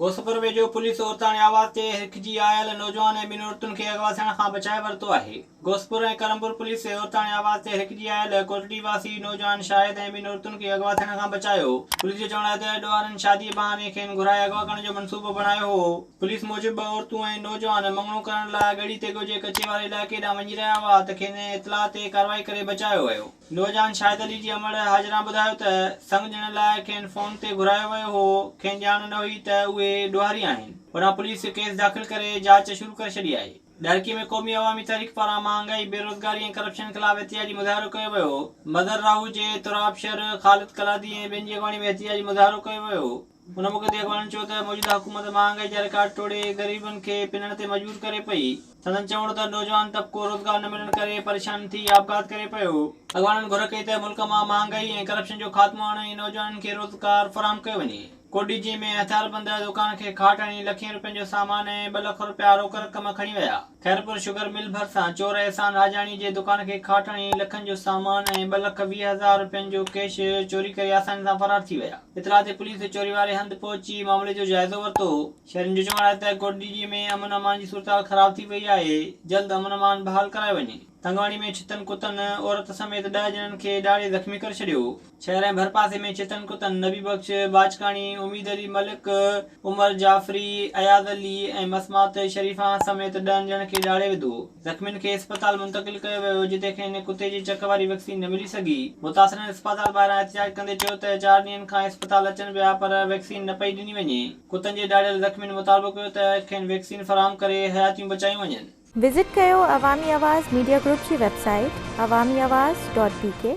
گوسفر ويجهو پوليس عورتاڻي آواز تي هرکجي آيل نوجوان ۽ ٻن عورتن کي اغوا ٿيڻ کان بچائي ورتو آهي. گوسفر ۽ ڪرمپور پوليس تي عورتاڻي آواز تي هرکجي آيل ڪوٽڙي واسي نوجوان شاهد ۽ ٻن عورتن کي اغوا ٿيڻ کان بچايو. پوليس جو چوڻ آهي ته اڏ وارن شاديء بهاني کين گهرائي اغوا ڪرڻ جو منصوبو بڻايو هو. پوليس موجب ٻه عورتون ۽ نوجوان مڱڻو ڪرڻ لاء ڳڙهي تيڳو جي ڪچي واري علائقي ڏانهن وڃي رهيا هئا ته کين اطلاع تي ڪارروائي ڪري بچايو ويو. نوجوان شاهد علي جي امڙ حاجران ٻڌايو ته سڱ ڏيڻ لاء کين فون تي گهرايو ويو هو، کين ڄاڻ نه هئي ته اهي ڏوهاري آهن، هوڏانهن پوليس ڪيس داخل ڪري جاچ شروع ڪري ڇڏي آهي. ڏهرڪي ۾ قومي عوامي تحريڪ پاران مهانگائي، بيروزگاري ۽ ڪرپشن خلاف احتجاجي مظاهرو ڪيو ويو، مظهر راهوجي، تراب شر، خالد ڪلادي ۽ ٻين جي اڳواڻي ۾ احتجاجي مظاهرو ڪيو ويو. هن موقعي تي اڳواڻن چيو ته موجوده حڪومت مهانگائي جا رڪارڊ ٽوڙي غريبن کي پنڻ تي مجبور ڪري پئي. سندن چوڻ هو ته نوجوان طبقو روزگار نه ملڻ ڪري پريشان ٿي آپگهات ڪري پيو. اڳواڻن گهر ڪئي ته ملڪ مان مهانگائي ۽ ڪرپشن جو خاتمو آڻي ۽ نوجوانن کي روزگار فراهم ڪيو وڃي. ڪو ڊي جي ۾ هٿياربند دوڪان کي کاٽ هڻي لکين روپين جو سامان ۽ ٻه لک روپيا روڪ رقم کڻي ويا. خيرپور شگر مل ڀرسان چور احسان آجاڻي جي دڪان کي کاٽ هڻي لکن جو سامان ۽ ٻه لک ويهه هزار رپين جو ڪيش چوري ڪري آساني سان فرار ٿي ويا. اطلاع تي پوليس چوري واري هنڌ پهچي معاملي جو جائزو ورتو. شهرين جو چوڻ آهي ته ڪوٽڏيجي ۾ امن امان جي صورتحال خراب ٿي وئي آهي، جلد امن امان بحال ڪرايو وڃي. تنگواڻي ۾ ڇتن ڪتن عورت سميت ڏهه ڄڻن کي ڏاڙهي زخمي ڪري ڇڏيو. شهر ۽ ڀرپاسي ۾ ڇتن ڪتن نبي بخش باجڪاڻي، اميد علي ملڪ، عمر جعفري، اياز علي ۽ مسمات شريفه سميت ڏهن ڄڻن کي ڏاڙهي وڌو. زخمين کي اسپتال منتقل ڪيو ويو جتي کين ڪتي جي چڪ واري ويڪسين نه ملي سگهي. متاثرن اسپتال ٻاهران احتجاج ڪندي چيو ته چار ڏينهن کان اسپتال اچن پيا پر ويڪسين نه پئي ڏني وڃي. ڪتن جي ڏاڙهيل زخمين مطالبو ڪيو ته کين ويڪسين فراهم ڪري حياتيون بچايون وڃن. وزٽ ڪيو عوامي آواز ميڊيا گروپ جي website Awami Awaz dot بي ڪي.